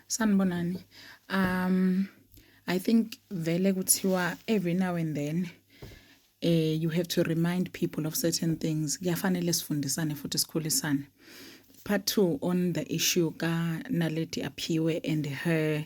Sanibonani. Um I think vele kuthiwa every now and then eh you have to remind people of certain things. Kuyafanele sifundisane futhi sikhulisane. Part 2 on the issue ka Naledi Aphiwe and her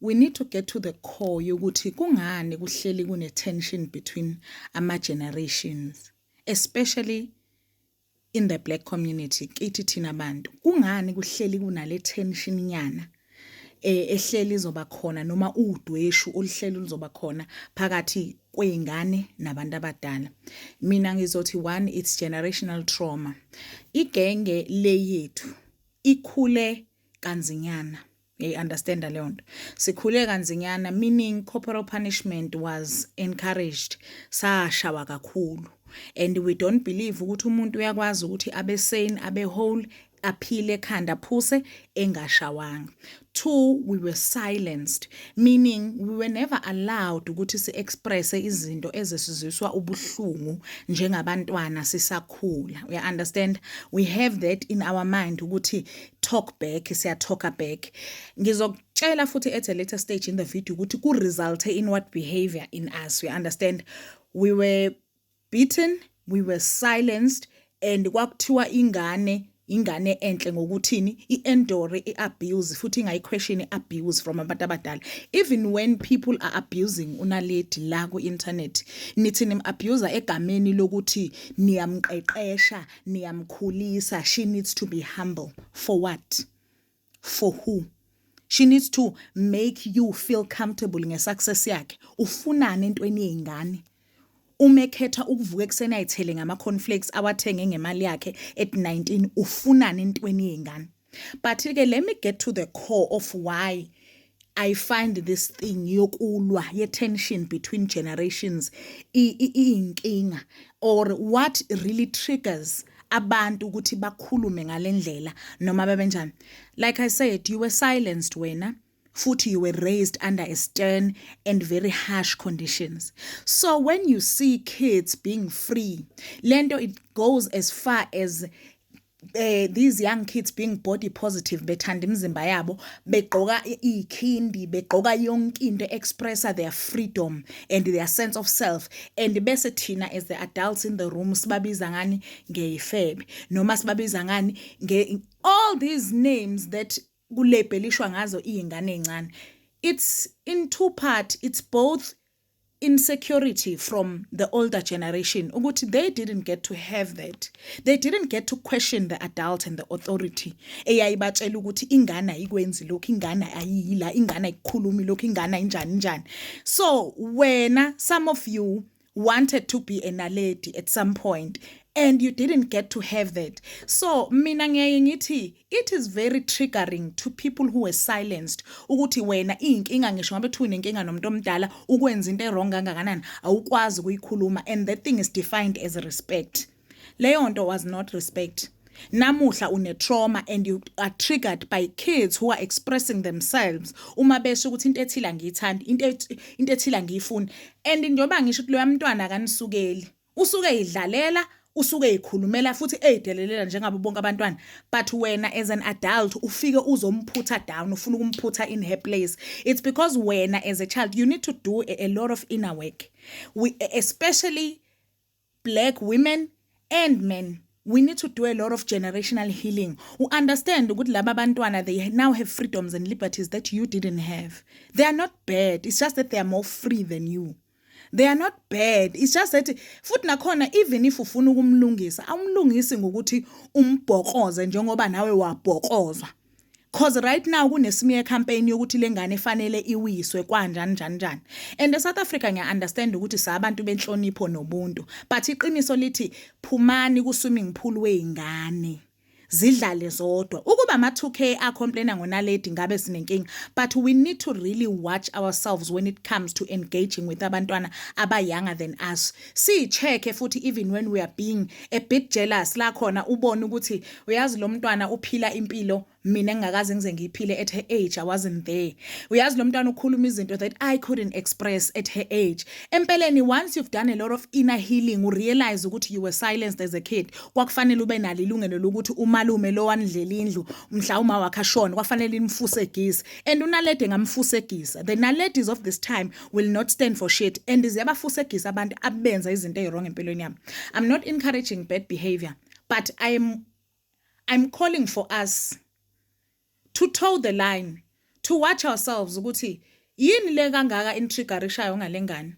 We need to get to the core yokuthi kungani kuhleli kune tension between ama generations especially in the black community kithi thina bantu kungani kuhleli kunale tension nyana eh, ehleli izoba khona noma udweshu oluhleli luzoba khona phakathi kwey'ngane nabantu abadala mina ngizothi one it's generational trauma igenge leyethu ikhule kanzinyana Hey, understand leyo nto sikhule kanzinyana meaning corporal punishment was encouraged sashawa kakhulu and we don't believe ukuthi umuntu uyakwazi ukuthi abe sane abe whole aphile ekhanda phuse engashawanga two we were silenced meaning we were never allowed ukuthi si-expresse izinto ezesiziswa ubuhlungu njengabantwana sisakhula uya-understand we have that in our mind ukuthi talk back siya talker back ngizokutshela futhi at a later stage in the video ukuthi ku resulte in what behavior in us we understand we were beaten we were silenced and kwakuthiwa ingane ingane enhle ngokuthini i-endore i-abuse futhi ingayi-question i-abuse from abantu abadala even when people are abusing unaledi la ku-internet nithi nim-abuser egameni lokuthi niyamqeqesha niyamkhulisa she needs to be humble for what for who she needs to make you feel comfortable ngesuccess yakhe ufunani entweni yey'ngane uma ekhetha ukuvuka ekuseni ayithele ngama-conflakes awathenge ngemali yakhe at 19 ufunani entweni yey'ngane but ke let me get to the core of why I find this thing yokulwa ye tension between generations iyinkinga or what really triggers abantu ukuthi bakhulume ngalendlela noma babenjani like i said you were silenced wena futhi you were raised under a stern and very harsh conditions so when you see kids being free lento it goes as far as eh these young kids being body positive bethanda imizimba yabo begqoka ikhindi begqoka yonke into expressa their freedom and their sense of self and bese thina as the adults in the room sibabiza ngani ngeyifebe noma sibabiza ngani nge all these names that kulebhelishwa ngazo iy'ngane ey'ncane it's in two part it's both insecurity from the older generation ukuthi they didn't get to have that they didn't get to question the adult and the authority eyayibatshela ukuthi ingane ayikwenzi lokhu ingane ayiyila ingane ayikhulumi lokhu ingane ayinjani njani so wena some of you wanted to be a naledi at some point and you didn't get to have that so mina ngiyaye ngithi it is very triggering to people who were silenced ukuthi wena iyinkinga ngisho ngabe kuthiwa unenkinga nomuntu omdala ukwenza into ewrong kangakanani awukwazi ukuyikhuluma and that thing is defined as respect leyo nto was not respect namuhla une-trauma and you are triggered by kids who are expressing themselves uma besho ukuthi into ethile angiyithandi into ethile angiyifuni and njengoba ngisho ukuthi loya mntwana akanisukeli usuke eyidlalela usuke eyikhulumela futhi eyidelelela njengabo bonke abantwana but wena as an adult ufike uzomphutha down ufuna ukumphutha in her place it's because wena as a child you need to do a, a lot of inner work we, especially black women and men we need to do a lot of generational healing u understand ukuthi laba bantwana they now have freedoms and liberties that you didn't have they are not bad it's just that they are more free than you they are not bad it's just that futhi nakhona even if ufuna ukumlungisa awumlungisi ngokuthi umbhokoze njengoba nawe wabhokozwa Cause right now kunesmear campaign yokuthi lengane efanele iwiswe kwanjani njani njani. And eSouth Africa ngiya understand ukuthi sabantu benhlonipho nobuntu. But iqiniso lithi phumani ku swimming pool weingane. Zidlale zodwa. Ukuba ama 2K a complain ngonaledi ngabe sinenkinga. But we need to really watch ourselves when it comes to engaging with abantwana aba younger than us. siyi check futhi even when we are being a bit jealous la khona ubone ukuthi uyazi lo mntwana uphila impilo mina ngingakaze ngize ngiyiphile at her age i wasn't there uyazi lo mntwana ukhuluma izinto that i couldn't express at her age empeleni once you've done a lot of inner healing u realize ukuthi you were silenced as a kid kwakufanele ube nalo ilungelo lokuthi umalume lo wanidlela indlu mhla uma wakhe ashona kwafanele nimfuse gisa and unalede ngamfuse gisa the naladies of this time will not stand for shit and ziyabafusegisa abantu abenza izinto eziwrong empilweni yami i'm not encouraging bad behavior but i'm i'm calling for us to toe the line to watch ourselves ukuthi yini le kangaka intriggerishayo ngalengane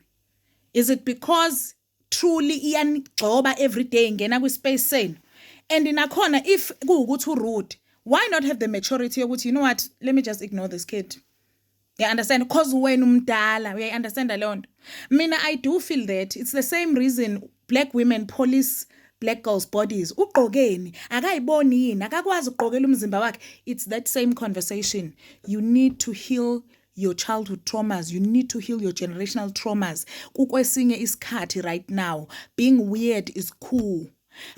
is it because truly iyanigxoba everyday ingena kwispace senu and nakhona if kuwukuthi urude why not have the maturity yokuthi you know what let me just ignore this kid you understand because wena umdala uyayi-understanda leyo nto mina i do feel that it's the same reason black women police black girls bodies ugqokeni akayiboni yini akakwazi ukugqokela umzimba wakhe it's that same conversation you need to heal your childhood traumas you need to heal your generational traumas kukwesinye isikhathi right now being weird is cool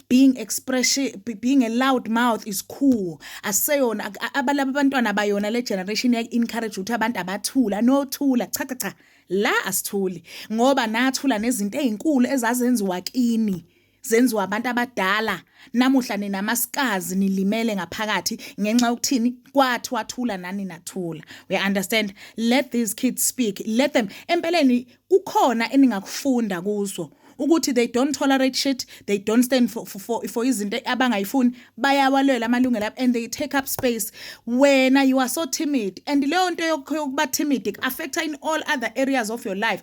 being expression being a loud mouth is cool aseyona abalaba abantwana bayona le generation ya encourage ukuthi abantu abathula no thula cha cha cha la asithuli ngoba nathula nezinto ezinkulu ezazenziwa kini zenziwa abantu abadala namuhla nina masikazi nilimele ngaphakathi ngenxa yokuthini kwathi wathula nani nathula we understand let these kids speak let them empeleni kukhona eningakufunda kuzo ukuthi they don't tolerate shit they don't stand for for for, for izinto abangayifuni bayawalwela amalungelo abo and they take up space wena you are so timid and leyo nto yokuba timid affecta in all other areas of your life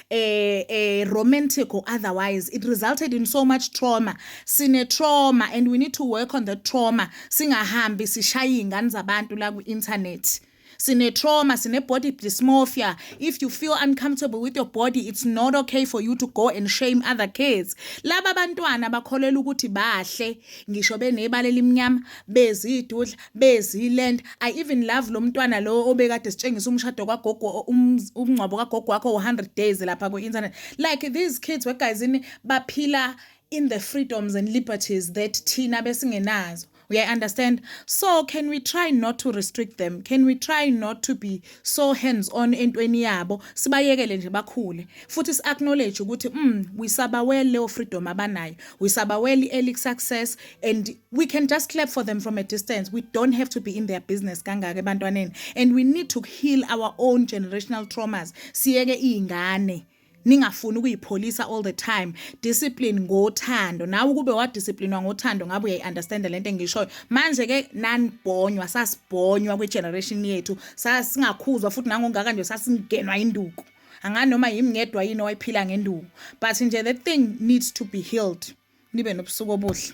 eh, eh, romantic or otherwise it resulted in so much trauma sine trauma and we need to work on the trauma singahambi sishaye iy'ngane zabantu la kwi-internet sine trauma sine body dysmorphia if you feel uncomfortable with your body it's not okay for you to go and shame other kids laba bantwana bakholela ukuthi bahle ngisho benebala elimnyama bezidudla beziland i even love lo mntwana lowo obekade sitshengisa umshado kwagogo umngcwabo kagogo wakho u-100 days lapha kwi-internet like these kids wegayizini baphila in the freedoms and liberties that thina besingenazo we understand so can we try not to restrict them can we try not to be so hands on entweni yabo sibayekele nje bakhule futhi si acknowledge ukuthi mm we sabawele leyo freedom abanayo we sabawele early success and we can just clap for them from a distance we don't have to be in their business kangaka ebantwaneni and we need to heal our own generational traumas siyeke iy'ngane ningafuni ukuyipholisa all the time discipline ngothando nawe ukube wadisciplinwa ngothando ngabe uyayi-understanda le nto engishoyo manje ke nanibhonywa sasibhonywa kwi-generation yethu sasingakhuzwa futhi nangongaka nje sasingenwa induku angani noma yimi ngedwa yini owayiphila ngenduku but nje the thing needs to be healed nibe nobusuku obuhle